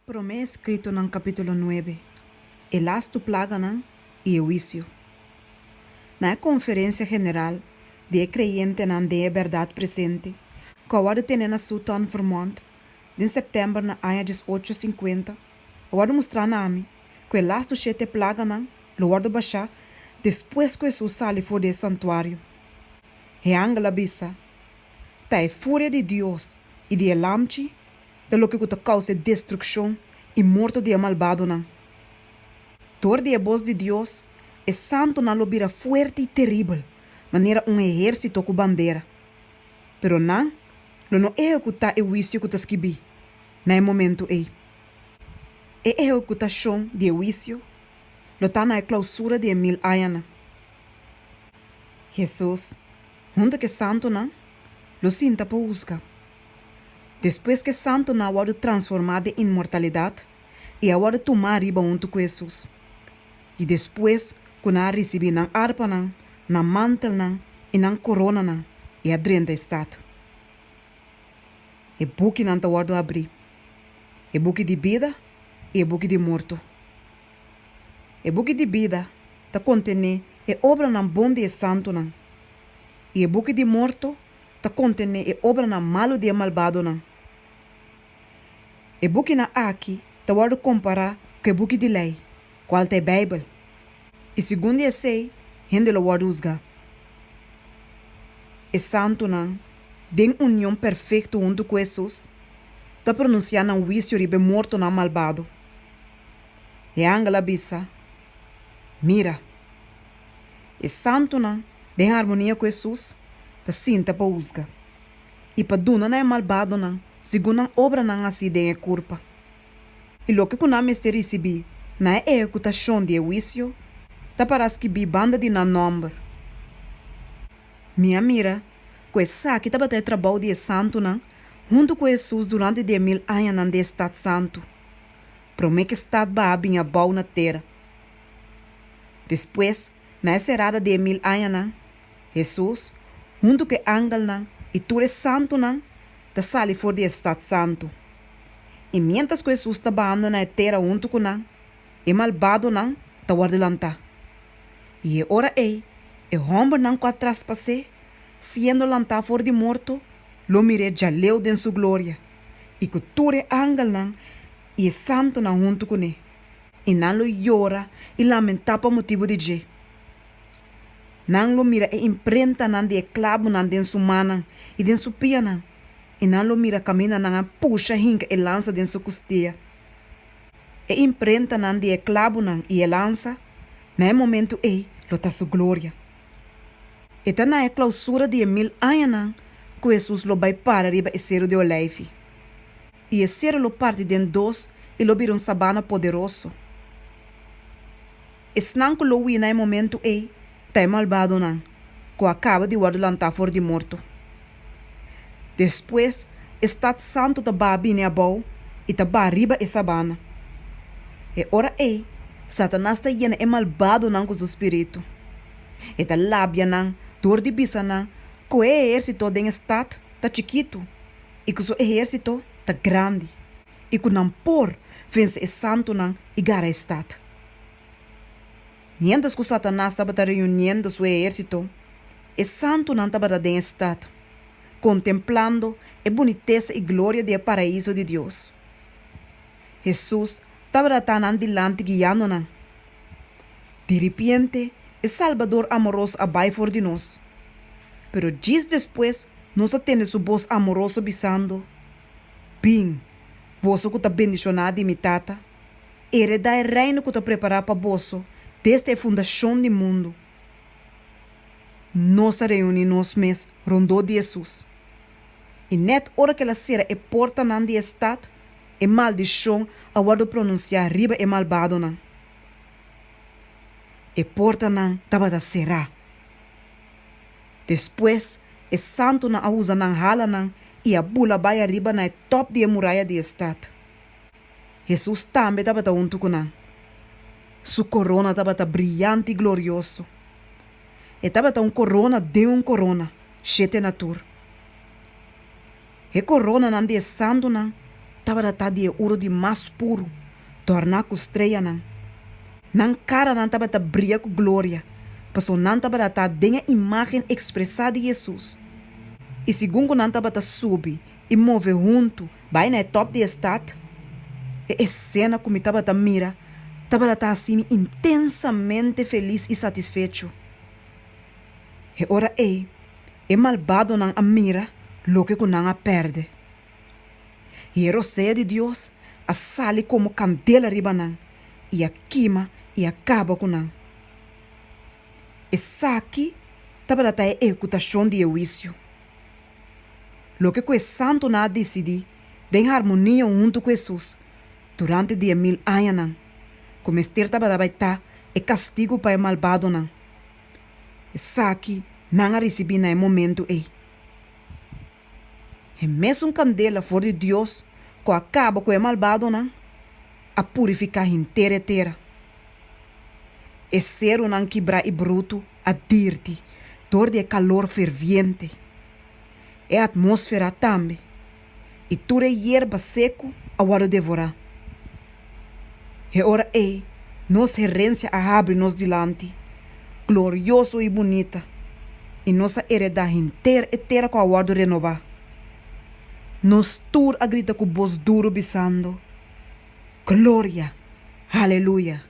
Promé eskritonan kapítulo nuebe, e lastu plaganan i e huisio. Na e konferensia general di e kreyentenan den e bèrdat presente ku a wòrdu tené na Suton, Vermont, den sèptèmber na aña dies ocho sinkuenta, a wòrdu mustrá na ami ku e lastu shete plaganan lo wòrdu bashá despues ku Hesus sali for di e santuario. E angel a bisa, Ta e furia di Dios i di e Lam chi Ta loke ku ta kousa e destrukshon i morto di e malbadonan. Dor di e bos di Dios, e santunan lo bira fuerte i teribel, manera un ehérsito ku bandera. Pero nan lo no ehekutá e huisio ku ta skibí na e momentu ei. E ehekutashon di e huisio lo ta na e klausura di e mil añanan. Hesus. Huntu k'e santunan lo sinta pa husga. Despues k'e santunan a wòrdu transformá den inmortalidat i a wòrdu tumá riba huntu ku Hesus. I despues ku nan a risibí nan arpanan, nan mantelnan i nan koronanan, e a drenta e stat. E bukinan ta wòrdu abrí, e buki di bida i e buki di morto. E buki di bida ta kontené e obranan bon di e santunan, i e buki di morto ta kontené e obranan malu di e malbadonan. E bukinan aki ta wòrdu kompará ku e buki di lei, kual ta e Beibel, i segun di esei hende lo wòrdu husgá. E santunan, den union perfekto huntu ku Hesus, ta pronunsiá nan huisio riba e mortonan malbado. E angel a bisa, Mira! E santunan den harmonia ku Hesus ta sinta pa husga i pa duna na e malbadonan segun nan obranan hasi den e kurpa. I loke ku nan mester risibí na e ehekutashon di e huisio ta pará skibí banda di nan nòmber. Mi a mira ku esaki tabata e trabou di e santunan huntu ku Hesus durante diemil añanan den e stat santu. Promé ke Stat Baha bin a bou na tera. Despues, na e serada di e mil añanan, Hesus, huntu ku e angelnan i tur e santunan, ta sali for di e Stat Santu. I miéntras ku Hesus ta bahando na e tera huntu ku nan, e malbadonan ta wòrdu lantá. I e ora ei, e hòmbernan ku a traspas'é, siendo lantá for di morto, lo mir'é djaleu den su gloria. i ku tur e angelnan i e santunan huntu kuné, i nan lo yora i lamentá pa motibu di dje. Nan lo mira e imprentanan di e klabunan den su mannan i den su pianan, i nan lo mira kaminda nan a pusha hinka e lansa den su kustia. E imprentanan di e klabunan i e lansa, na e momentu ei, lo ta su gloria. E ta na e klausura di e mil añanan ku Hesus lo bai para riba e Seru di Olijfi. I e seru lo parti den dos i lo bira un sabana poderoso. Esnan ku lo wina e momentu ei ta e malbadonan ku a kaba di wòrdu lantá for di morto. Despues e stat santu ta baha bini abou i ta baha riba e sabana. E ora ei, Satanas ta yena e malbadonan ku su spiritu. E ta labia nan dor di bisa nan ku e ehérsito den e stat ta chikitu i ku su ehérsito ta grandi i ku nan por vense e santunan i gara e stat. Miéntras ku Satanas tabata reuniendo su ehérsito, e santunan tabata den e stat, kontemplando e bunitesa i gloria di e Paraíso di Dios. Hesus tabata ta nan dilanti guiando nan. Di ripiente, e Salbador amoroso a bai for di nos. Pero djis despues nos a tende su bos amoroso bisando, Bin, boso ku ta bendishoná di mi Tata. Heredá e reino ku ta prepará pa boso desde e fundashon di mundu. Nos a reuní nos mes rondó di Hesus. I nèt ora ke el a sera e portanan di e stat, e maldishon a wòrdu pronunsiá riba e malbadonan. E portanan tabata será. Despues, e santunan a usa nan hala nan i a bula bai ariba na e tòp di e muraya di e stat. Hesus tambe tabata huntu ku nan. Su korona tabata briant i glorioso. E tabata un korona den un korona, shete na tur. E koronanan di e santunan tabata ta di e uru di mas puru, torná ku streyanan. Nan karanan tabata bria ku gloria, pasobra nan tabata ta den e imágen ekspresá di Hesus. I segun ku nan tabata subi i move huntu Bai na e top di e stad. E escena cu mi tabata mira tabata ta haci mi intensamente feliz y satisfecho. E ora ey e malbadonan a mira loke cu nan a perde. Y e rosea di Dios a sali como candela riba nan y a kima y a caba cu nan. Esaki tabata ta e ecutacion di e huicio. Loke ku e santunan a disidí den harmonía huntu ku Hesus durante di e mil añanan, ku mester tabata bai ta e kastigu pa e malbadonan, esaki nan a risibí na e momentu ei. E mesun kandela for di Dios ku a kaba ku e malbadonan, a purifiká henter e tera. E serunan kibrá i brutu a dirti dor di e kalor ferviente. E atmósfera a tambe, i tur e yerba seku a wòrdu devorá. E ora ei nos herensia a habri nos dilanti, glorioso i bunita, i nos a eredá henter e tera ku a wòrdu renobá. Nos tur a grita ku bos duru bisando, Gloria! Haleluya!